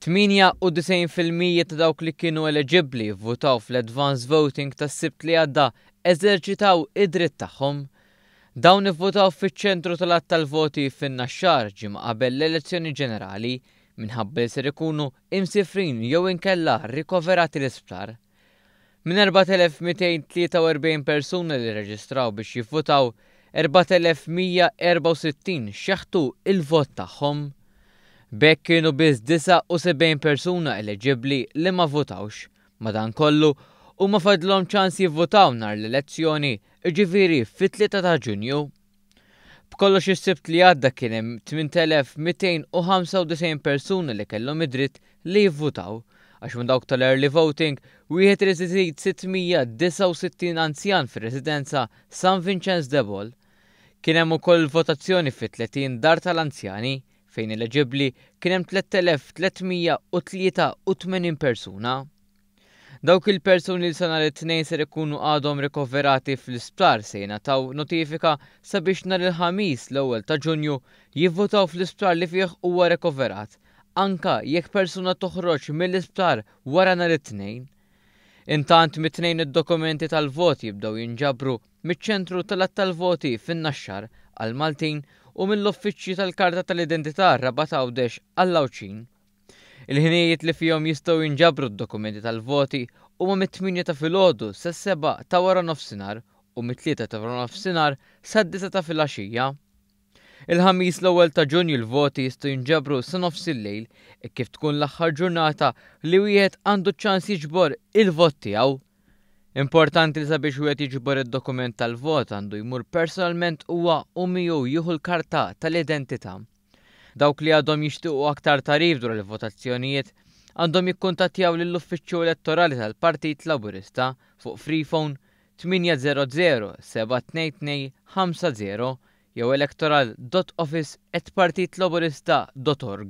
98 fil-mija ta' dawk li kienu eleġibbli vvutaw fl-advance voting tas-Sibt li għadda eżerċitaw id-dritt tagħhom. Dawn ivvutaw fiċ-ċentru tal-għadd tal-voti fin-Naxxar ġimgħa qabel l-elezzjoni ġenerali minħabba li ser ikunu imsifrin jew inkella rikoverati l-isptar. Minn 4,243 persuna li rreġistraw biex jivvutaw, 4,164 xeħtu l-vot tagħhom. B'hekk kienu biss 79 persuna eleġibbli li ma vvutawx. Madankollu, huma fadlhom ċans jivvutaw nhar l-elezzjoni, jiġifieri fit-3 ta' Ġunju. B'kollox is-Sibt li għadda kien hemm 8,295 persuna li kellhom id-dritt li jivvutaw, għax minn dawk tal-early voting, wieħed irid iżid 669 anzjan fir-residenza San Vinċenz de Paul. Kien hemm ukoll il-votazzjoni fi 30 dar tal-anzjani, fejn eleġibbli kien hemm 3,383 persuna. Dawk il-persuni li sa nhar it-Tnejn ser ikunu għadhom rikoverati fl-isptar se jingħataw notifika sabiex nhar il-Ħamis l-ewwel ta' Ġunju jivvutaw fl-isptar li fih huwa rikoverat, anke jekk persuna toħroġ mill-isptar wara nhar it-Tnejn. Intant mit-Tnejn id-dokumenti tal-vot jibdew jinġabru miċ-ċentru tal-għadd tal-voti fin-Naxxar għall-Maltin u mill-uffiċċji tal-karta tal-identità Rabat Għawdex għall-Għawdxin. Il-ħinijiet li fihom jistgħu jinġabru d-dokumenti tal-voti huma mit-tmienja ta' filgħodu sas-sebgħa ta' waranofsinhar u mit-tlieta ta' waranofsinhar sad-disgħa ta' filgħaxija. Il-Ħamis l-ewwel ta' Ġunju l-voti jistgħu jinġabru sa nofs il-lejl hekk kif tkun l-aħħar ġurnata li wieħed għandu ċ-ċans jiġbor il-vot tiegħu. Importanti li sabiex wieħed jiġbor id-dokument tal-vot għandu jmur personalment huwa u miegħu jieħu l-karta tal-identità. Dawk li għadhom jixtiequ aktar tagħrif dwar il-votazzjonijiet għandhom jikkuntattjaw lill-Uffiċċju Elettorali tal-Partit Laburista fuq Freephone 800 722 50 jew electoral.office@partitlaburista.org.